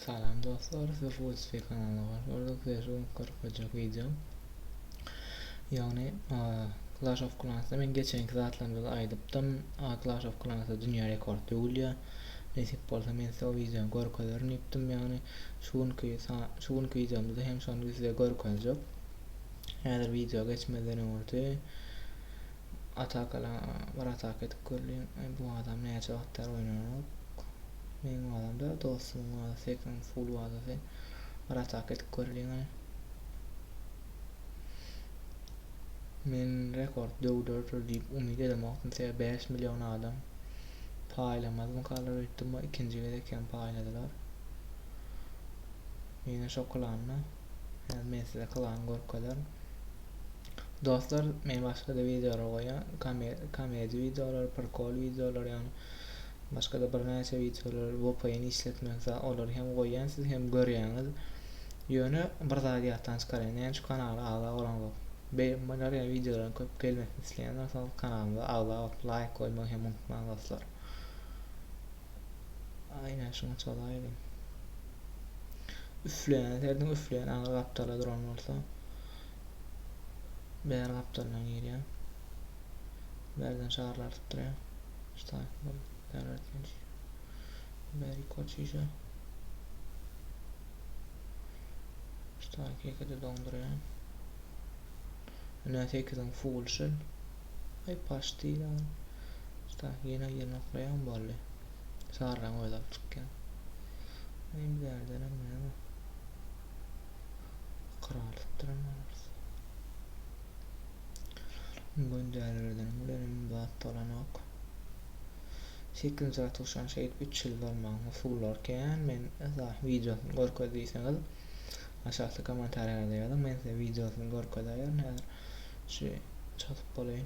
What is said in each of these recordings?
Salam dostlar siz Rusby kanalyna hoş geldik size şu günki görkezjek wideom ýagny Clash of Clansda men geçenki zatlarymda aýdypdym Clash of Clansda dünýä rekord döwülýär nesip bolsa men size o wideony görkezerin diýipdim ýagny şu günki şu günki wideomda hem şony size görkezjek häzir wideo geçmezden öňürti atakalaň bir ataka edip göreliň bu adam näçe wagt bäri oýnanok meň wazamda dostumyň wazasy ekran full wazasy bir ataka edip göreliň ony men rekord döwdürdir diýip umyt edemokdym sebäbi bäş million adam paýlamazmykalar öýtdüm ikinji gezek hem paýladylar ýene şokolanda Hany men size klan görkezerin. Dostlar, men başga-da wideolar goýýan, komedi wideolar, prikol wideolar, ýagny başga-da birnäçe wideolar VPN işletmek, olary hem goýýan, siz hem görýäňiz. Ýöne bir zady ýatdan çykarýan, näme şu kanala agza bolaňok. Beýle ýa wideolaryň köp gelmesini isleýän bolsaňyz kanalymyza agza bolup, laýk goýmagy hem unutmaň dostlar. Üfleýän serdiň üfleýän agyr gapdala duran bolsa bär gapdaldan girýär. Bärden şarlar tutdurýar. Ştaýklar bär etmiş. Bär ýokary çişe. Ştaýk ekide doňdurýar. Ine sekiziň full şil. Aý paşdi ýaly. Usta, ýene ýerine okleýaň boldy. Çagyrgaň özi alyp çykýar. Aý bärdenem näme? Ykralypdyryn olarys. Boýun dälirdenim bilenem zat bolanok. Sekizinji gatda uçan şeýdip üç ýyl bolmagyň usullary kän men esa wideosyny görkez diýseňiz. Aşakda komentariýalarda ýazyň men size wideosyny görkezäýerin häzir şu çatyp bolaýyn.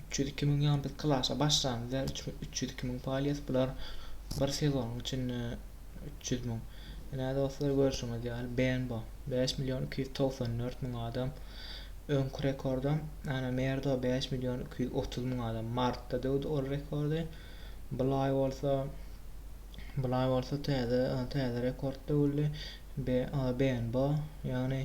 Üç ýüz iki müň ýaňy biz klasy başlan bizler üçin üç ýüz iki müň palýas bular bir sezonyň içinde üç ýüz müň ine dostlar görşüňiz ýaly bnb bäş million iki ýüz togsan dört müň adam öňki rekordam ana merdo bäş million iki ýüz otuz müň adam martda döwdi ol rekordy bulaý bolsa bulaý bolsa täze täze rekord döwüldi bnb ýagny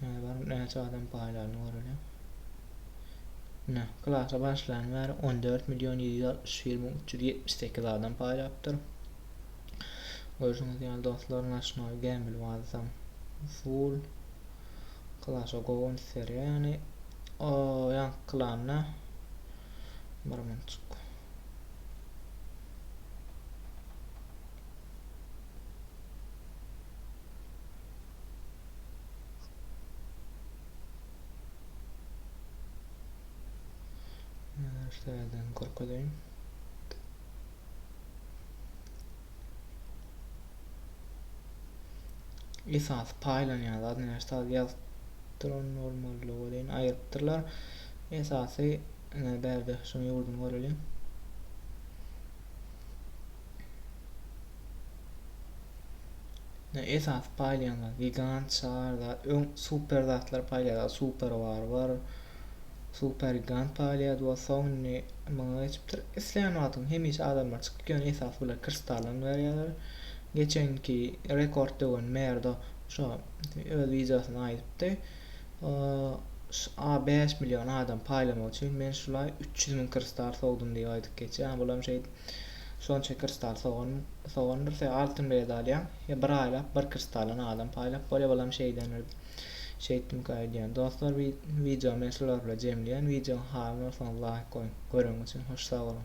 Hany bir näçe adam paýlandy göreli. Ine, klasa başlandan bäri 14 million 761 müň 378 adam paýlapdyr. Görşüňiz ýaly dostlar, naşnoý gämil wazam full klasa gowun serýä ýany o ýan klanda bir minutçuk. Şeýdäýem görkezeýin. Esasy paýlanýan zat näçe ýaz Tron normallygy welin aýrypdyrlar. Esasy bärde şuň ýurduny göreliň. esasy paýlaýanlar gigant çar zat öň super zatlar paýlaýardy super bar bar super gigant paýlaýardy we soň indi muňa geçipdir islän wagtyň hemişe adamlar çykyp ýöne esasy bular kristaldan berýärler geçenki rekord döwen merdo şo öz wideosynda aýdypdy a bäş million adam paýlamak üçin men şulaý üç ýüz müň kristal sowdum diýip aýdyp geçýär ýa bulam şeýdip Şonça kristal sogan sogandyr se altyn bilet alýaň ýa bir aýlap bir kristaldan adam paýlap bolýa bolam şeýdendir şeýtdimka öýdýän dostlar wideo men şular bilen jemleýän wideoň haly bolsaňyz laýk goýuň göreň üçin hoş sag boluň.